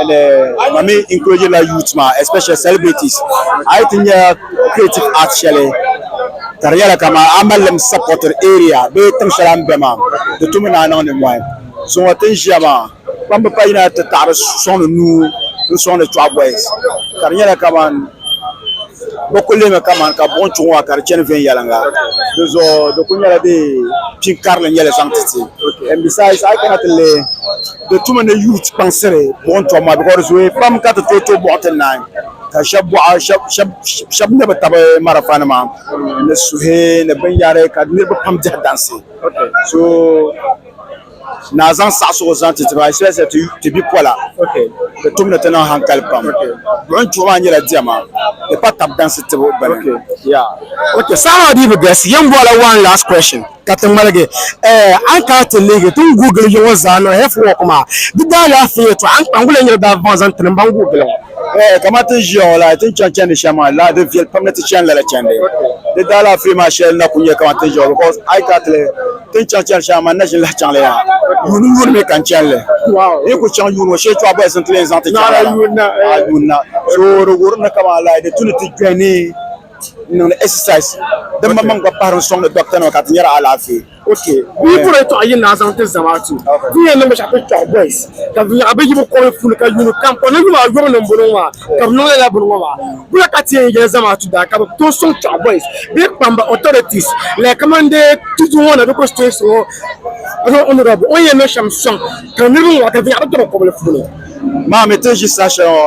and uh, mami encourage la youth ma especially celebrities ayi ti nya creative art shɛli ka di nyɛla kama a malim support area bee tiŋ shɛli a ni bɛ maa di tumi ni a niŋ nimmɔhi zuŋɔ tin ʒiya maa kpamba pa yina ti taɣiri sɔŋdi nuu n sɔŋdi chɔɣu boys ka di nyɛla kaman bɛ ku lihimi kaman ka buɣim chuɣu ŋɔ ka di chani viɛnyɛliŋga di zuɣu di ku nyɛla dee pin karili nyɛli zaŋ ti ti and besides a yi kana ti lihi Bɛ tuma ni youth kpaŋsiri buɣim tɔbu maa because di zooya pam ka ti tooi to buɣa ti naai ka shɛba buɣa shɛba ŋmɛ bɛ taba marafanima ni suhi ni binyɛhiri ka niriba pam dihi dansi so naa zaŋ saɣisigu zaŋ ti ti ba especially ti bipola bɛ tum ni ti niŋ hankali pam buɣim tuhi maa nyɛla diɛma di pa taba dansi tibu bini. Saha maa dii bi galisi. Yɛn bɔhila one last question. ka ti ŋmaligi ɛɛ a ni kana ti leegi ti ni guui gili ya ŋɔ zaa niŋ hɛf wɔk maa di daalaafee yɛtɔɣa a ni kpa n-guli ya niriba daa vaŋ zaŋ ti ni m-baŋ guui gili ŋɔ. Ɛɛ kamani ti ni ʒiya ŋɔ la ti ni chaŋ chandi shɛm maa lala di viɛli pam ni ti chani lala chandi di daalaafee maa shɛli na kuli nyɛ kamani ti ni ʒiya ŋɔ bicos a yi kana ti leei ti ni chaŋ chandi shɛm maa man n na ʒini lahi chaŋ li yaha yuuni yuuni mi ka n chani li n yi kuli chaŋ yuuni ŋɔ shee chuɣu bɔhisi nti leei n zaŋ ti chaŋ lala a yuuni na so di wuhiri ni kamani lala di tu ni ti kpe ni n niŋdi exercise din ma maŋ gba pahiri n sɔŋdi doctor nima ka ti nyari alaafee. Okay. Bɛ yi bɔri tɔɣu yini na a zaŋ ti Zamaatu. Ti ni yɛn niŋ binshɛɣu ti tɔɣu boys ka bɛ nyaɣi bɛ yibu kɔbiri puuni ka yuuni kam kɔbiri ni yumaa yɔbu ni m-bɔno ŋɔ maa ka bɛ niŋ lala bini ŋɔ maa. Bɔya ka ti yɛn yɛli Zamaatu daa ka bɛ tooi sɔŋ tɔɣu boys bee kpam ba authorities like kamani dee tutu ŋɔ na bee constituency ŋɔ na honourable o ni yɛn niŋ shɛm sɔŋ ka niriba ŋɔ ka bɛ nyaɣi bɛ tɔbu kɔbiri puuni. Maa mi ti ni ʒi saha shɛli ŋɔ.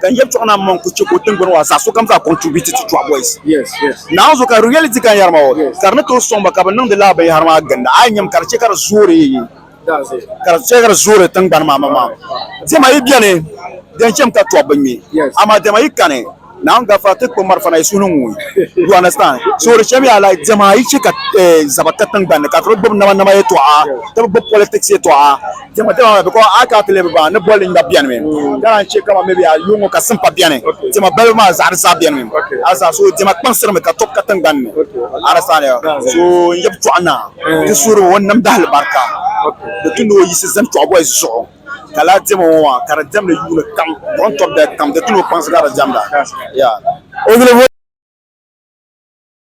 ka n yɛbi chuɣu na mɔŋ ku chɛ ka o tiŋgbani waa zaa sokam zaa contribute to Chuɣu Boys. Naanzu ka reality ka n yɛri maa o, ka di ni tooi sɔŋ ba ka bɛ niŋdi lala binyɛhiri maa ginda, a yi nyami ka di chɛ ka di zoori ka di chɛ ka di zoori tiŋgbani maa maŋmaŋ. Diɛma yi beni di yɛn chɛmi ka tɔbu bi ŋme, amaa diɛma yi kani Naawuni gafara ti kpi marafa na yi suhu ni ŋui. You understand? So di chɛmiya like diɛma yi chɛ ka zaba ka tiŋgbani ni ka ti bi gbubi namanama yɛltɔɣa, ti bi gbubi politics yɛltɔɣa, Diɛma diɛma maa because a ka pili bi baŋ ni bolli ŋmɛbu bɛni mi ka naan chɛ kama maybe a yuŋɔ ka simpa bɛni diɛma balibu maa zaɣa di zaa bɛni mi arasa so diɛma kpaŋsiri mi ka tɔbu ka tiŋgbani ni arasa ni so n yab chɔɣu naa ti suhiri o namda alibarika di tu ni o yisi zani chɔɣu boys zuɣu ka lala diɛma ŋɔ maa ka di diɛmdi yuuni kam buɣim tɔbu dali kam di tu ni o kpaŋsi ka di diɛmda.